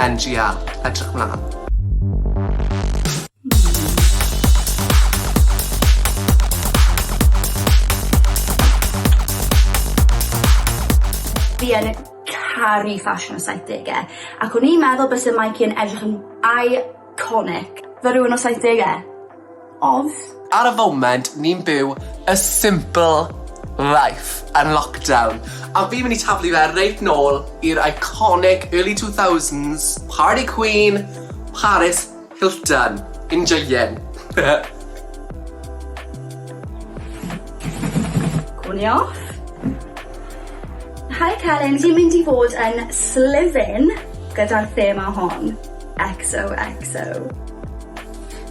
NGL, edrych mlan. Fi yn caru ffasiwn y saithdege ac o'n i'n meddwl byse Mikey yn edrych yn iconic fel rywun o saithdege. Odd. Ar y foment, ni'n byw a simple life yn lockdown, a fi'n mynd i taflu fe reit nôl i'r iconic early two thousands, party queen, Paris Hilton. Enjoyin'. Gwn i off. Hi Carin, ti'n mynd i fod yn sliven gyda'r thema hon. XOXO.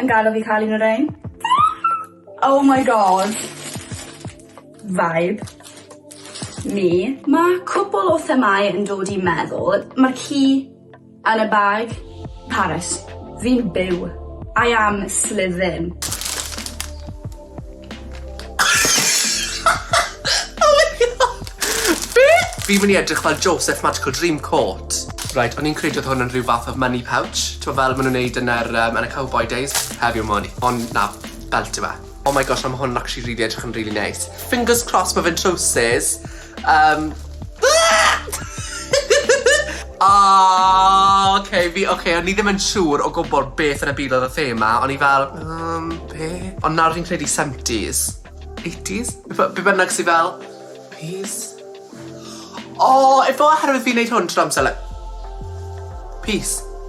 Yn gadel fi ca'l un o rein. Oh my God. Vibe. Me. Ma' cwpwl o themâu yn dod i meddwl. Ma'r ci yn y bag. Paris. Fi'n byw. I am slithin. Oh my god! Be? Fi'n mynd i edrych fel Joseph Magical Dream Coat. Reit, o'n i'n credu oedd hwn yn rhyw fath o money pouch. T'mo' fel ma' nhw'n neud yn yr yym yn y cowboi days? Heddiw ma' hwn, ond na, belt yw e. Oh my gosh na ma' hwn yn actually rili edrych yn rili neis. Fingers crossed ma' fe'n trowsus. Um, Oh, okay, fi, okay, o'n i ddim yn siŵr o gwybod beth yn y byd oedd y thema. O'n i fel, um, be? Ond nawr fi'n credu 70s. 80s? Be bynnag sy'n fel, peace. O, oh, efo oherwydd fi'n neud hwn trwy amser, like, peace.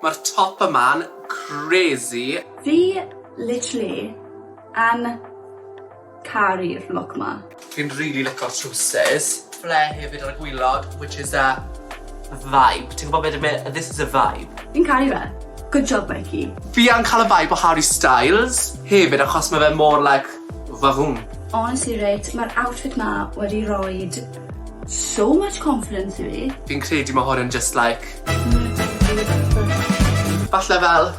Mae'r top yma'n crazy. Fi literally yn caru'r look ma. Fi'n rili lico'r trowsus. Ble hefyd ar y gwilod which is a vibe. Ti'n gwybod be dwi'n me- this is a vibe. Fi'n caru fe. Good job Becky. Fi yn cael y vibe o Harry Styles hefyd achos ma' fe mor like vahoom. Honestly reit ma'r outfit ma wedi roid So much confidence i fi. Fi'n credu ma' hwn yn jyst like... Falle fel...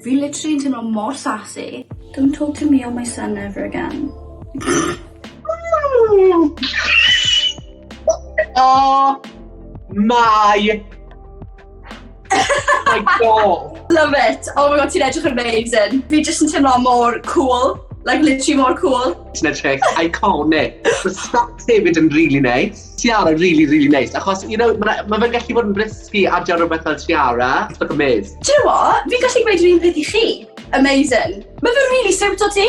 Fi literally yn teimlo mor sassy. Don't talk to me or my son ever again. O! Mae! my god! Love it! Oh my god, ti'n edrych yn amazing. Fi jyst yn teimlo mor cool. Like, literally mor cool. Ti'n edrych iconic. Mae Scott hefyd yn really nice. Tiara, really, really nice. Achos, you know, mae ma fe'n gallu bod yn brisgu a diar rhywbeth fel Tiara. It's like a maze. Do you know what? Fi'n gallu gweud yr un peth i chi. Amazing. Mae fe'n really siwt o ti.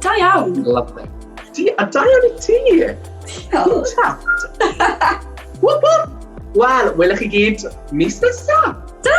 Da iawn! Lovely. Ti, a da iawn i ti! Diolch! Whoop whoop! Wel, welwch chi gyd mis nesaf! Da!